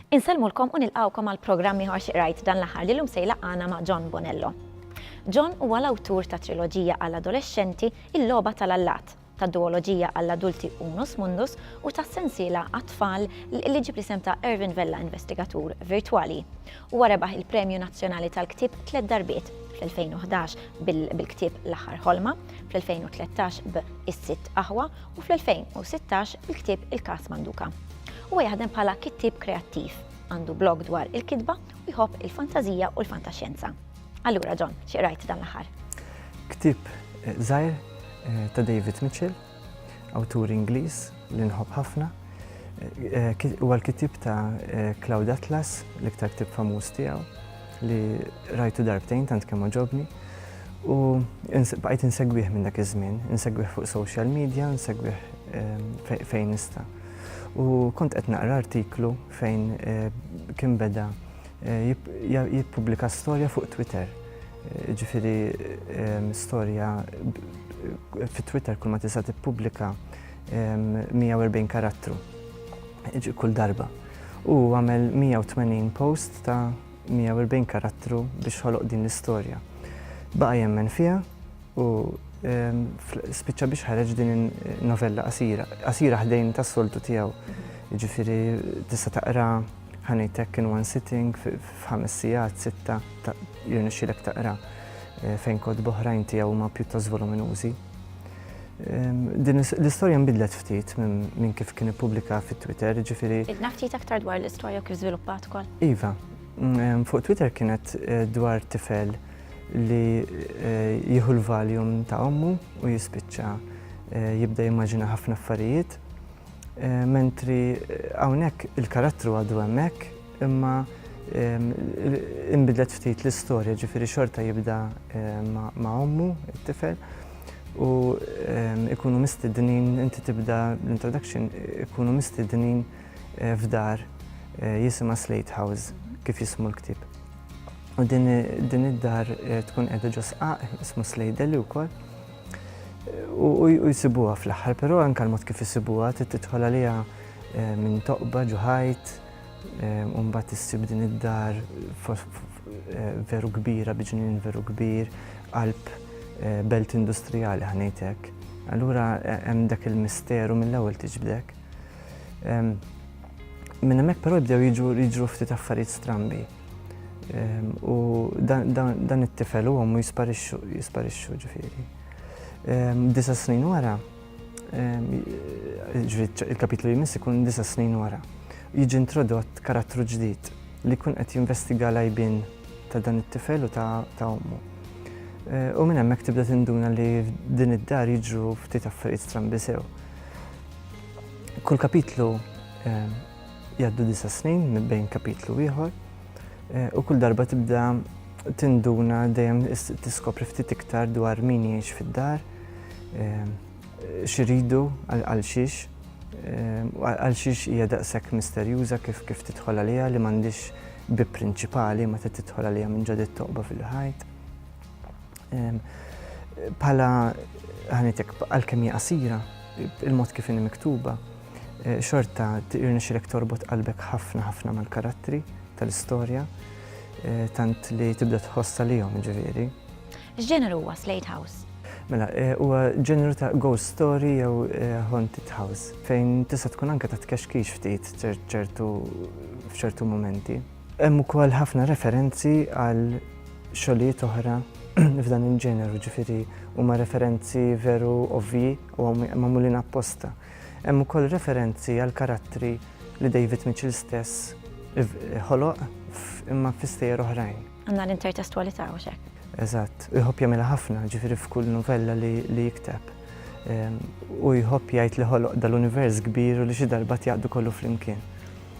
Insellmulkom u nilqgħukom għal programm ieħor xi qrajt dan l-aħħar li llum se jlaqqana ma' John Bonello. John huwa l-awtur ta' triloġija għall-adolexxenti Il-Logħba tal-Allat, tad-duwoloġija għall-adulti Unus Mundus u tas-sensiela għat-tfal li ġġib l-isem ta' Ervin Vella Investigatur Virtwali. Huwa rebaħ il-Premju Nazzjonali tal-Ktieb tliet darbiet, fl-2011 bil-ktieb L-Aħħar Ħolma, fl-2013 b' Is-Sitt Aħwa u fl-2016 bil-ktieb Il-Każ Manduka. Huwa jaħdem bħala kittieb kreattiv, għandu blog dwar il-kitba u jħobb il-fantażija u l-fantaxjenza. Allura, John, xi qrajt dan l-aħħar? Ktib eh, żgħir eh, ta' David Mitchell, awtur Ingliż li nħobb ħafna. Eh, huwa l-kitib ta' Cloud Atlas, l-iktar ktib famuż tiegħu, li rajtu darbtejn tant kemm ġobni. U bqajt insegwih minn dak iż-żmien, insegwih fuq social media, insegwih fejn nista'. U kont qed naqra artiklu fejn kien beda jippubblika storja fuq Twitter. Ġifiri storja fit Twitter kull ma tista' tippubblika 140 karattru kull darba. U għamel 180 post ta' 140 karattru biex ħoloq din l-istorja. Baqa' jemmen fiha U spiċċa biex ħareġ din in-novella qasira, qasira ħdejn tas-soltu tiegħu. Jiġifieri tista' taqra ħanejtek in one sitting f'ħames sigħat, sitta, jirnexxilek taqra eh, fejn kod boħrajn tiegħu huma pjuttost voluminużi. Din l-istorja nbidlet ftit minn kif kien ippubblika fit-Twitter, ġifiri. Idna ftit aktar dwar l-istorja kif żviluppat ukoll. Iva, fuq Twitter kienet eh, dwar tifel li jieħu l-Valium ta' ommu u jispiċċa jibda jimmaġina ħafna affarijiet. Mentri hawnhekk il-karattru għadu hemmhekk imma imbidlet ftit l-istorja ġifieri xorta jibda ma' ommu it-tifel u ikunu mistednin inti tibda l-introduction ikunu mistednin f'dar jisimha Slate House kif jismu l-ktieb. U din id-dar eh, tkun qiegħda ġo sqaq, ismu Slejdeli wkoll. U jisibuha fl-aħħar, però anke l-mod kif isibuha trid tidħol għaliha eh, minn toqba ġuħajt, eh, u mbagħad issib din id-dar veru kbira, biġnin veru kbir, qalb belt industrijali ħanejtek. Allura hemm dak il-misteru mill-ewwel tiġbdek. Minn hemmhekk però jibdew jiġru ftit affarijiet strambi. Ehm, u dan it-tifel u għommu jisparixxu ġifieri. Ehm, disa snin wara, ehm, il-kapitlu jmiss ikun disa snin wara, jiġi introdott karattru ġdid li kun qed jinvestiga lajbin ta' dan it-tifel u ta' ommu. Eh, u minn hemmhekk tibda tinduna li din id-dar jiġru ftit affarijiet strambi sew. Kull kapitlu ehm, jgħaddu disa snin minn bejn kapitlu ieħor eh, u kull darba tibda tinduna dejjem tiskopri ftit iktar dwar min jgħix fid-dar, ehm, xiridu għal xiex, ehm, għal xiex hija daqshekk misterjuża kif kif tidħol għaliha li m'għandix bi prinċipali ma tidħol għaliha minn ġodit toqba fil-ħajt. Bħala ħanitek għal-kemm hija qasira, il-mod kif inhi miktuba, eh, xorta irnexxilek torbot qalbek ħafna ħafna mal-karattri tal-istorja, eh, tant li tibda tħoss għalihom ġifieri. X'ġeneru huwa Slate House? Mela, eh, huwa ġeneru ta' ghost story jew haunted house, fejn tista' tkun anke ta' tkexkix ftit ċertu f'ċertu momenti. Hemm ukoll ħafna referenzi għal xogħlijiet oħra f'dan il-ġeneru, ġifieri huma referenzi veru ovvji u magħmulin apposta. Hemm ukoll referenzi għal karattri li David Mitchell stess ħoloq imma fi stejjer oħrajn. Għandna l-intertestwalità u xek. Eżatt, u jħobb jagħmilha ħafna, ġifieri f'kull novella li jikteb. Ehm, u jħobb jgħid li ħoloq dal-univers kbir u li xi darba jaqdu kollu flimkien.